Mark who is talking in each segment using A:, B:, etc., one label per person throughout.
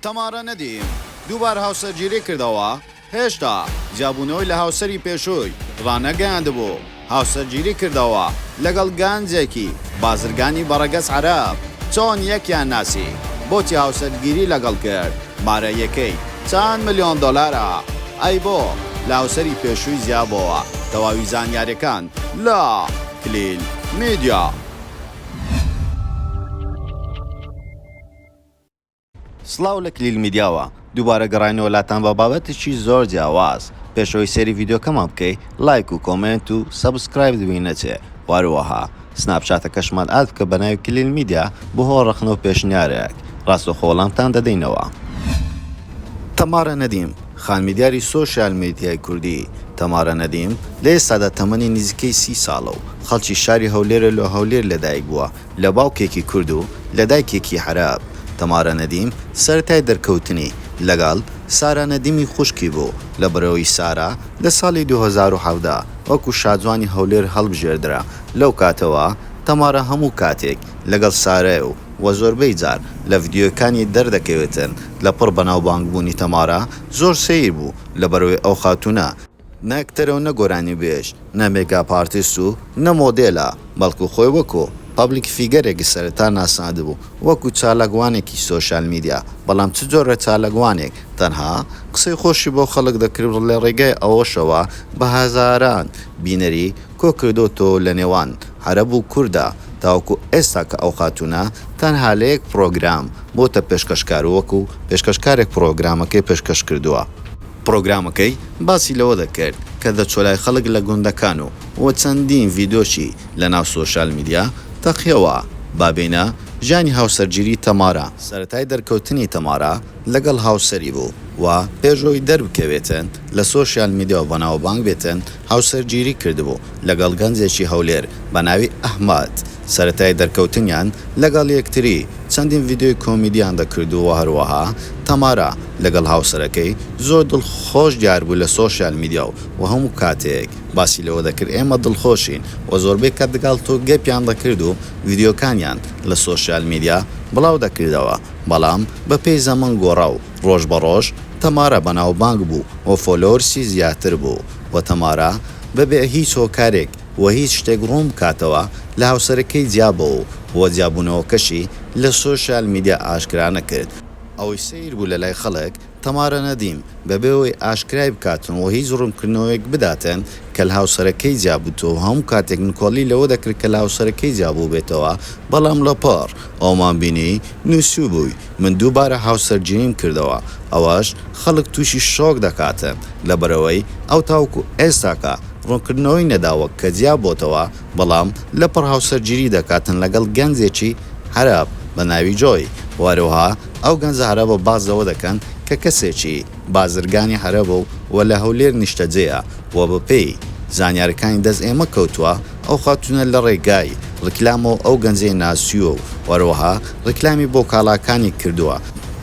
A: تەمارا نەدیم دووبار هاوسەرگیری کردەوە، هێشتا جیابوونەوەی لە هاوسەری پێشووی ڕانەگەیاندبوو، هاوسەرگیری کردەوە لەگەڵ گەنجێکی بازرگانی بە ڕەگەز عەرەب، چۆن یەکیان ناسی، بۆچی هاوسەرگیری لەگەڵ کرد، مارەیەکەی چەند ملیۆن دۆلارە، ئەی بۆ لە هاوسەری پێشووی جیابۆوە، تەواوی زانیاریەکان لە، کلیل میدیا. سڵاو لە کلیل میدیاوە دووبارە گەڕاینەوە لاتان بە بابەتێکی زۆر جیاواز پێش ئەوەی سەیری ڤیدیۆکەمان بکەی لایک و کۆمێنت و سەبسکرایبت بی نەچێ و هەروەها سناپ چاتەکەشمان ئاد بکە بە ناوی کلیل میدیا بۆ هەوڵ ڕەخنە و پێشنیارێک ڕاستەوخۆ وەڵامتان دەدەینەوە. تەمارا نەدیم، خانمی دیاری سۆشیال میدیای کوردی تەمارا نەدیم لە ئێستادا تەمەنی نزیکەی سی ساڵە و خەڵکی شاری هەولێرە لۆ هەولێر لەدایک بووە، لە باوکێکی کورد و لە دایکێکی عەرەب، تەمارا نەدیم سەرەتای دەرکەوتنی لەگەڵ سارا نەدیمی خوشکی بوو، لە بەرەوەی سارا لە ساڵی دوو هەزار و حەڤدە وەکو شاجوانی هەولێر هەڵبژێردرا، لەوکاتەوە تەمارا هەموو کاتێک لەگەڵ سارای و وە زۆربەی جار لە ڤیدیۆیەکانی دەردەکەوێتن، لەپڕ بەناوبانگبوونی تەمارا زۆر سەیر بوو لەبەرەوەی ئەو خاتوونە، نە ئەکتەرەو نە گۆرانیبێژ، نە مێگاپ ئارتیست و نە مۆدێلە، بەڵکو خۆی وەکو، پەبلیک فیگەرێک، سەرەتا ناساندبوو، وەکو چالاکوانێکی سۆشیال میدیا، بەڵام چ جۆرە چالاکوانێک، تەنها قسەی خۆشی بۆ خەڵک دەکرد و لەڕێگای ئەوەشەوە بە هەزاران بینەری کۆکردۆتەوەو لەنێوان عەرەب و کوردا، تاوەکو ئێستا کە ئەو خاتوونە تەنها لە یەک پڕۆگرام بۆتە پێشکەشکار و وەکو پێشکەشکارێک پڕۆگرامەکەی پێشکەشکردووە. پڕۆگرامەکەی باسی لەوە دەکرد کە دەچوە لای خەڵک لە گوندەکان و و چەندین ڤیدۆشی لە ناو سۆشیال میدیا تەقیەوە. با بێینە ژیانی هاوسەرگیری تەمارا. سەرەتای دەرکەوتنی تەمارا لەگەڵ هاوسەری بوو و پێش ئەوەی دەربکەوێتن لە سۆشیال میدیا و بەناوبانگ بێتن هاوسەرگیری کردبوو لەگەڵ گەنجێکی هەولێر بە ناوی ئەحمەد، سەرەتای دەرکەوتنیان لەگەڵ یەکتری چەندین ڤیدیۆی کۆمیدیان دەکردو و هەروەها تەمارا لەگەڵ هاوسەرەکەی زۆر دڵخۆش دیار بوو لە سۆشیال میدیاو و هەموو کاتێک باسی لەوە دەکرد ئێمە دڵخۆشین و زۆربەی کات لەگەڵ تۆ گەپیان دەکرد و ڤیدیۆکانیان لە سۆشیال میدیا بڵاو دەکردەوە بەڵام بە پێی زەمەن گۆڕا و ڕۆژ بە ڕۆژ تەمارا بەناوبانگ بوو و فۆلۆورسی زیاتر بوو و تەمارا بە بێ هیچ هۆکارێک و هیچ شتێک ڕوون بکاتەوە لە هاوسەرەکەی جیا بۆوە و جیابوونەوەکەشی لە سۆشیال میدیا ئاشکرا نەکرد. ئەوەی سەیر بوو لە لای خەڵک تەمارا نەدیم بە بێ ئەوەی ئاشکرای بکاتن و هیچ ڕوونکردنەوەیەک بداتن کە لە هاوسەرەکەی جیا بووتەوە و هەموو کاتێک نکۆڵی لەوە دەکرد کە لە هاوسەرەکەی جیا بووبێتەوە بەڵام لە پاڕ ئەومان بینی نووسیوبووی من دووبارە هاوسەرگیریم کردەوە، ئەوەش خەڵک تووشی شۆک دەکاتن، لەبەرئەوەی ئەو تاوەکو ئێستاکە ڕوونکردنەوەی نەداوە کە جیا بۆتەوە، بەڵام لەپڕ هاوسەرگیری دەکاتن لەگەڵ گەنجێکی عەرەب بە ناوی جۆی، وهەروەها ئەو گەنجە عەرەبە باس لەوە دەکەن کە کەسێکی بازرگانی عەرەبە و لە هەولێر نیشتەجێیە و بەپێی زانیاریەکانی دەست ئێمە کەوتووە، ئەو خاتوونە لە ڕێگای ڕیکلامەوە ئەو گەنجەی ناسیووە و هەروەها ڕیکلامی بۆ کاڵاکانی کردووە،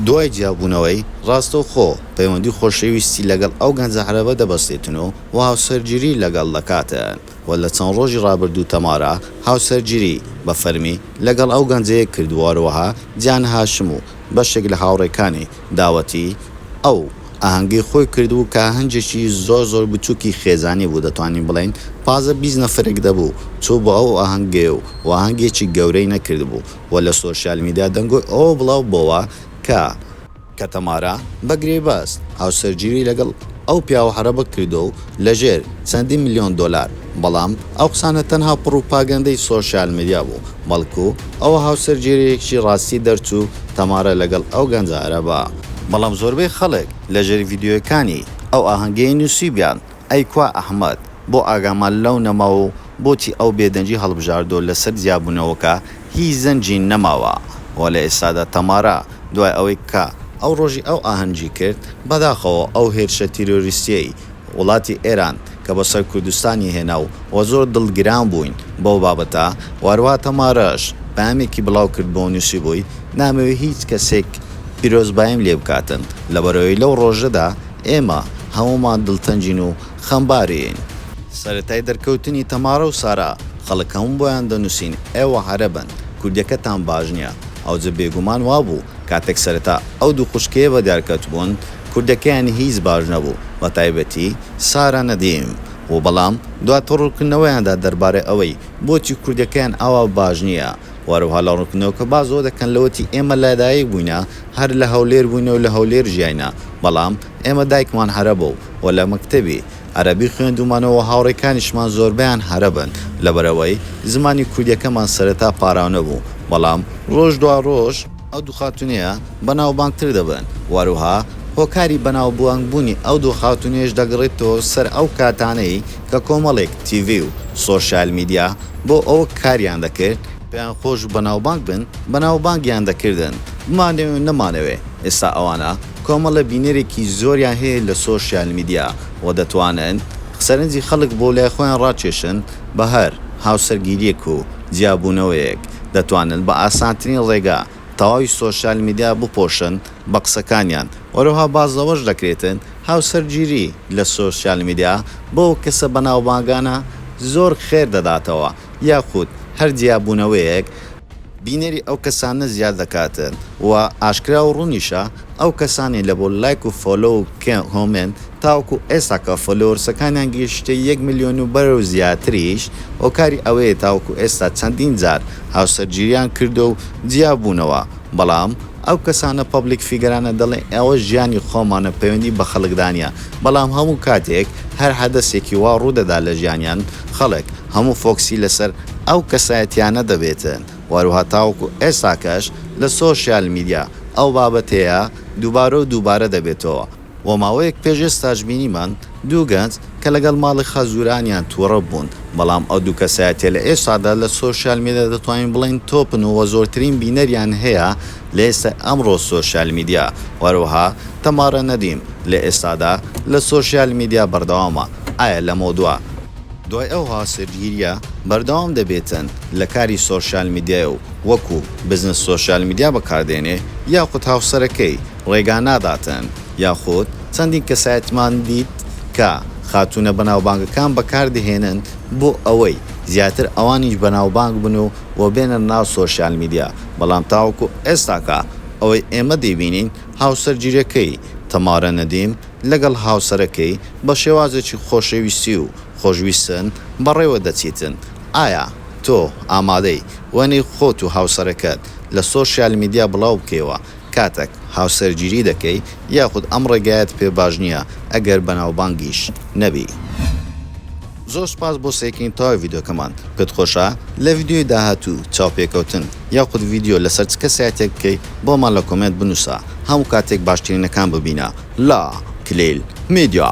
A: دوای جیابوونەوەی، ڕاستەوخۆ پەیوەندی خۆشەویستی لەگەڵ ئەو گەنجە عەرەبە دەبەستێتن و هاوسەرگیری لەگەڵ دەکاتن و لە چەند ڕۆژی ڕابردوو تەمارا هاوسەرگیری بە فەرمی لەگەڵ ئەو گەنجەیە کردووە هەروەها جان هاشم و بەشێک لە هاوڕێکانی داوەتی ئەو ئاهەنگەی خۆی کردبوو کە ئاهەنجێکی زۆر زۆر بچووکی خێزانی بوو دەتوانین بڵێین پازدە بیست نەفرێک دەبوو چوو بۆ ئەو ئاهەنگەی و و ئاهەنگێکی گەورەی نەکردبوو و لە سۆشیال میدیا دەنگۆی ئەوە بڵاو بۆوە کە کە تەمارا بە گرێبەست هاوسەرگیری لەگەڵ ئەو پیاوە عەرەبە کردووە و لەژێر چەندین ملیۆن دۆلار، بەڵام ئەو قسانە تەنها پڕوپاگەندەی سۆشیال میدیا بوو، بەڵکو ئەوە هاوسەرگیرییەکی ڕاستی دەرچوو تەمارە لەگەڵ ئەو گەنجە عەرەبە. بەڵام زۆربەی خەڵک لەژێر ڤیدیۆیەکانی ئەو ئاهەنگەی نووسیوبیان، ئەی کوا ئەحمەد؟ بۆ ئاگامان لەو نەما و بۆچی ئەو بێدەنگی هەڵبژاردو لەسەر جیابوونەوەکە هیچ زەنگی نەماوە و لە ئێستادا تەمارا دوای ئەوەی کە ئەو ڕۆژی ئەو ئاهەنگی کرد، بەداخەوە ئەو هێرشە تیرۆریستیەی وڵاتی ئێران کە بۆ سەر کوردستانی هێنا و وە زۆر دڵگران بووین بەو بابەتە و هەروەها تەمارەش پەیامێکی بڵاو کردبوو و نووسیبووی نامەوێ هیچ کەسێک پیرۆزباییم لێ بکاتن لەبەرئەوەی لەو ڕۆژەدا ئێمە هەموومان دڵتەنگین و خەمبارین. سەرەتای دەرکەوتنی تەمارە و سارا خەڵک هەموو بۆیان دەنووسین ئێوە عەرەبن کوردیەکەتان باش نیە ئەوجە بێگومان وابوو کاتێک سەرەتا ئەو دوو خوشکەیە بەدیار کەتبوون کوردەکەیان هیچ باش نەبوو بەتایبەتی سارا نەدیم و بەڵام دواتر ڕوونکردنەوەیاندا دەربارەی ئەوەی بۆچی کوردەکەیان ئاوا باش نیە و هەروەها لە ڕوونکردنەوەکە باس زۆر دەکەن لەوەتی ئێمە لەدایک بووینە هەر لە هەولێر بووینە و لە هەولێر ژیاینە بەڵام ئێمە دایکمان هەرە بوو و لە مەکتەبی عەرەبی خوێندوومانەوە و هاوڕێکانیشمان زۆربەیان هەرە بن، لەبەرئەوەی زمانی کوردییەکەمان سەرەتا پاراونە بوو، بەڵام ڕۆژ دوا ڕۆژ، ئەو دوو خاتوونەیە بەناوبانگتر دەبن و هەروەها هۆکاری بەناوبانگبوونی ئەو دوو خاتوونەیەش دەگەڕێتەوە سەر ئەو کاتانەی کە کۆمەڵێک تیڤی و سۆشیال میدیا بۆ ئەوە کاریان دەکرد، پێیان خۆش بوو بەناوبانگ بن، بەناوبانگیان دەکردن، بمانەوێ نەمانەوێ، ئێستا ئەوانە کۆمەڵە بینەرێکی زۆریان هەیە لە سۆشیال میدیا و دەتوانن سەرنجی خەڵک بۆ لای خۆیان ڕاکێشن، بە هەر هاوسەرگیرییەک و جیابوونەوەیەک دەتوانن بە ئاسانترین ڕێگا تەواوی سۆشیال میدیا بپۆشن، بە قسەکانیان. هەروەها باس لەوەش دەکرێتن هاوسەرگیری لە سۆسیال میدیا بۆ ئەو کەسە بەناوبانگانە زۆر خێر دەداتەوە یاخود هەر جیابوونەوەیەک، بینەری ئەو کەسانە زیاد دەکاتن و ئاشکرا و ڕوونیشە ئەو کەسانەی لە بۆ لایک و فۆلۆ و کۆمێنت تاوەکو ئێستاکە فۆلۆورسەکانیان گەیشتە یەک ملیۆن و بەرەو زیاتریش هۆکاری ئەوەیە تاوەکو ئێستا چەندین جار هاوسەرگیریان کردووە و جیابوونەوە بەڵام ئەو کەسانە پەبلیک فیگەرانە دەڵێن ئەوە ژیانی خۆمانە پەیوەندی بە خەڵکدا نیە بەڵام هەموو کاتێک هەر حەدەسێکی وا ڕوودەدا لە ژیانیان خەڵک هەموو فۆکسی لەسەر ئەو کەسایەتیانە دەبێتن وەروەها تاوەکو ئێستاکەش لە سۆشیال میدیا ئەو بابەتەیە دووبارە و دووبارە دەبێتەوە و ماوەیەک پێش ئێستاش بینیمان دوو گەنج کە لەگەڵ ماڵی خەزورانیان توڕە بوون، بەڵام ئەو دوو کەسایەتیە لە ئێستادا لە سۆشیال میدیا دەتوانین بڵێین تۆپن و زۆرترین بینەریان هەیە لە ئێستای ئەمڕۆ سۆشیال میدیا، وەروەها تەمارا نەدیم لە ئێستادا لە سۆشیال میدیا بەردەوامە، ئایا لەمەو دوا. دوای ئەو هاوسەرگیریە بەردەوام دەبێتن لە کاری سۆشیال میدیای و وەکو بزنس سۆشیال میدیا بەکاردێنێ یاخود هاوسەرەکەی؟ ڕێگا ناداتن یاخود چەندین کەسایەتمان دیت کە خاتوونە بەناوبانگەکان بەکاردەهێنن بۆ ئەوەی زیاتر ئەوانیش بەناوبانگ بن و و بێنە ناو سۆشیال میدیا بەڵام تاوەکو ئێستاکە ئەوەی ئێمە دەیبینین هاوسەرگیرەکەی تەمارە نەدیم لەگەڵ هاوسەرەکەی بە شێوازێکی خۆشەویستی و خۆشویستن بەڕێوە دەچیتن ئایا تۆ ئامادەی وێنەی خۆت و هاوسەرەکەت لە سۆشیال میدیا بڵاو بکەیەوە کاتەک هاوسەرگیری دەکەی یاخود ئەم ڕێگایەت پێ باش نییە ئەگەر بەناوبانگیش نەبی. زۆر سوپاس بۆ سەیرکردنی تەواوی ڤیدیۆکەمان، پێت خۆشە لە ڤیدیۆی داهاتوو چاوپێکەوتن یاخود ڤیدیۆ لەسەر چ کەسایەتیەک بکەی بۆمان لە کۆمێنت بنووسە هەموو کاتێک باشترینەکان ببینە لە کلیل میدیا.